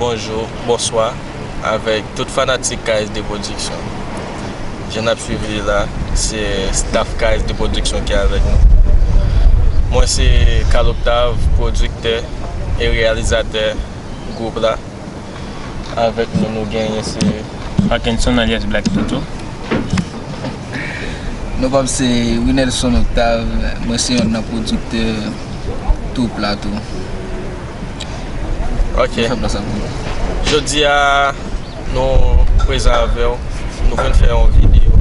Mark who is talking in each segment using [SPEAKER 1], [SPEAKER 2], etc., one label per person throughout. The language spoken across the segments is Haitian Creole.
[SPEAKER 1] Bonjou, bonswa avèk tout fanatik KSD Production Jan nap swiv li la, se staff KSD Production ki avèk nou Mwen se Carl Octave, pwodiktè e reyalizatè gwoup la Avèk nou nou genyen se Parkinson alyas Black
[SPEAKER 2] Toto.
[SPEAKER 3] Nou pa m se Rinelson Octave, mwen se yonn nan pwodiktè twoup la tou.
[SPEAKER 1] Ok. Mwen fè plas ak nou. Jodi a nou prezan avè w, nou vin fè yon videyo.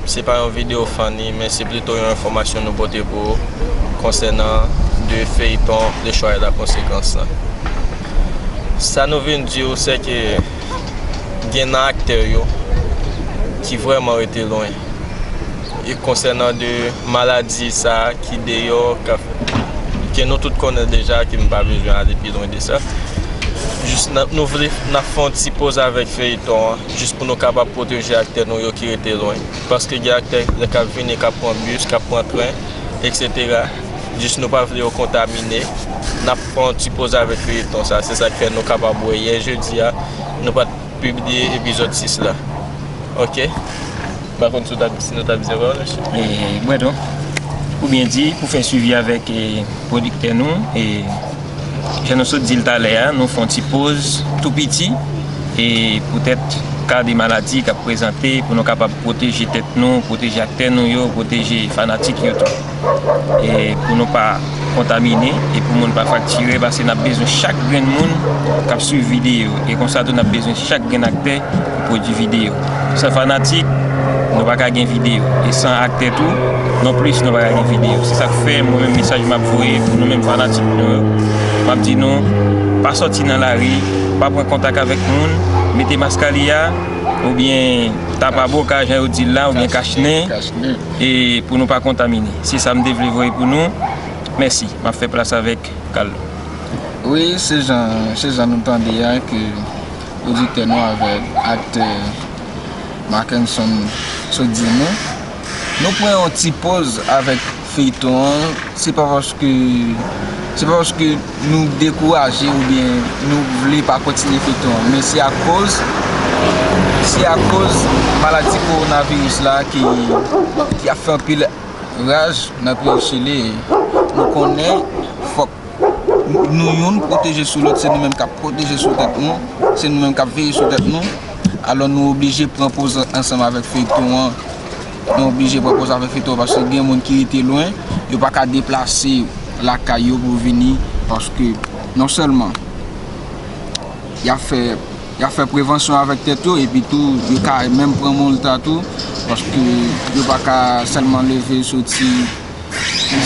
[SPEAKER 1] Se pa yon videyo funny men se plito yon enfòmasyon nou pote pou ou konsènan de feyton Le Choix et la Conséquence la. Sa nou vin di ou se ke gen nan aktè yo ki vrèman rete lwen. E konsènan de maladi sa ki deyò ke nou tout konnen deja ke m pa bezwen ale pi lwen de sa. Jis nou vle n ap fè yon ti poz avèk feyiton an jis pou nou kapab pwoteje aktè nou yo ki rete lwen. Paske gen aktè lè k ap vini k ap pran bis, k ap pran tren, eksetera. Jis nou pa vle yo kontamine. Fè yon ti poz avèk feyeton sa, se sak fè nou kapab wè yè jodi a nou pat pibliye epizòd 6 la ok m pa konn si nou ta bzwen wè l mesye. Mwen
[SPEAKER 2] tou. Ou byen di pou fè swivi avèk pwodiktè nou e jan nou sot di l talè a nou fè yon ti poz tou piti e poutèt ka de maladi k ap prezante pou nou kapab pwoteje tèt nou, pwoteje aktè nou yo, pwoteje fanatik yo tou. e pou nou pa kontamine e pou moun pa fraktire paske nap bezwen chak grenn moun kap swiv video e konsa tou nap bezwen chak grenn aktè ki pwodwi video san fanatik nou pa ka gen video e san aktè tou non plis nou pa ka gen video se sak fè mwen menm mesaj map voye pou nou menm fanatik nou yo map di nou pa sòti nan lari pa pran kontak avèk moun mete maskalia oubyen tapa boka jan yo dil la oubyen kachnen. E pou nou pa kontamine. Se sa m te vle voye pou nou. Mèsi. M ap fè plas avèk Carlo. Wi,
[SPEAKER 3] se jan, se jan nou tande a ke pwodiktè nou avèk aktè Marckenson sot di nou. Nou pran yon ti poz avèk feyton an. Se pa paske, se pa paske. Nou dekouraje oubyen nou vle pa kontinye feyton an men se akoz se akoz maladi korona viris la ki ap fè anpil raj nan peyi chili nou konnen fòk nou youn pwoteje sou lòt se nou menm kap pwoteje sou tèt nou se nou menm kap veye sou tèt nou alò nou oblije pran poz ansanm avèk feyton an Nou oblije pran pòz avèk feyton an paske gen moun ki rete lwen, yo pa ka deplase lakay yo pou vini paske non sèlman y ap fè y ap fè prevansyon avèk tèt yo epi tou yo ka menm pran molta tou paske yo pa ka sèlman leve soti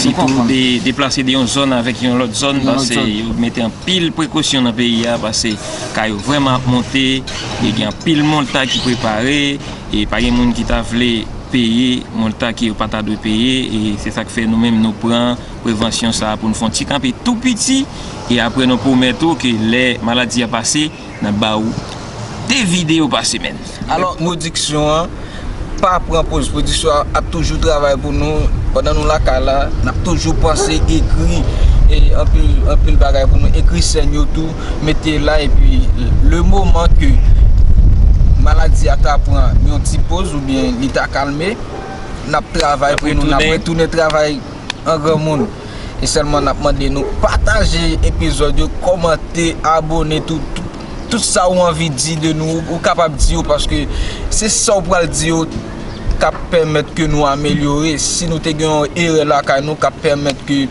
[SPEAKER 3] si
[SPEAKER 2] tou deplase de yon zòn avèk yon lòt zòn pase yo mete anpil prekosyon nan peyi a pase ka yo vrèman ap monte e gen anpil molta ki prepare. E pa gen moun ki ta vle peye montan ke yo pa ta dwe peye e se sa k fè nou menm nou pran prevansyon sa a pou n fè yon ti kanpe tou piti e apre nou pwomèt ou ke lè maladi a pase n ap ba ou 2 videyo pa semèn. Alò pwodiksyon
[SPEAKER 3] an pa pran poz, pwodiksyon an ap toujou travay pou nou pandan nou lakay la, n ap toujou panse ekri anpil bagay pou nou ekri sèn yo tou mete la epi le moman ke maladi a ta pran yon ti poz oubyen li ta kalme nap travay pou nou nap retounen travay an granmoun e sèlman nap mande nou pataje epizòd yo kòmante abone tout sa ou anvi di de nou ou kapab di yo paske se sa ou pral di yo kap pèmèt ke nou amelyore si nou te gen yon erè lakay nou kap pèmèt ke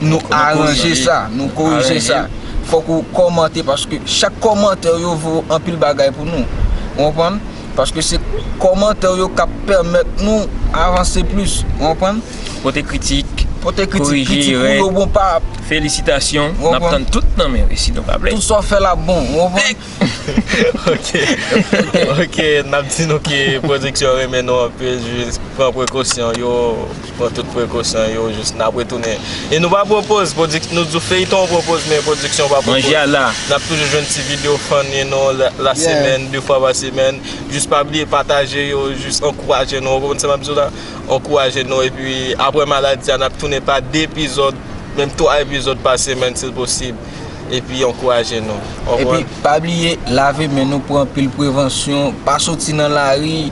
[SPEAKER 3] nou aranje sa, nou korije sa Fòk ou kòmante paske chak kòmantè ou yo vo anpil bagay pou nou Ou konprann? Paske se kòmantè ou yo kap pèmèt nou avanse plis Ou konprann? Pote kritik,
[SPEAKER 2] pote kritik, kritik
[SPEAKER 3] ou yo bon pa Felisitasyon,
[SPEAKER 2] nap tann tout nan men resi nou pap lè Tout sa w fè la bon, ou
[SPEAKER 3] konprann? Ok,
[SPEAKER 1] ok, nap di nou ke pwodiksyon renmen nou anpil jis pran prekosyon yo. Pran tout prekosyon yo jis nap retounen e nou pa pwopoz pwodik nou di w feyton ou pwopoz men pwodiksyon ou pa pwopoz Manje a la. Nap toujou
[SPEAKER 2] jwenn ti
[SPEAKER 1] video funny nou la semèn de fwa pa semèn jis pa bliye pataje yo jis ankouraje nou ou konprann sa map di w la ankouraje nou epi aprè maladi a nap tounen pa 2 epizòd menm 3 epizòd pa semèn si l posib epi ankouraje nou ou konprann. Epi pa bliye
[SPEAKER 3] lave men nou pran anpil prevansyon pa soti nan lari.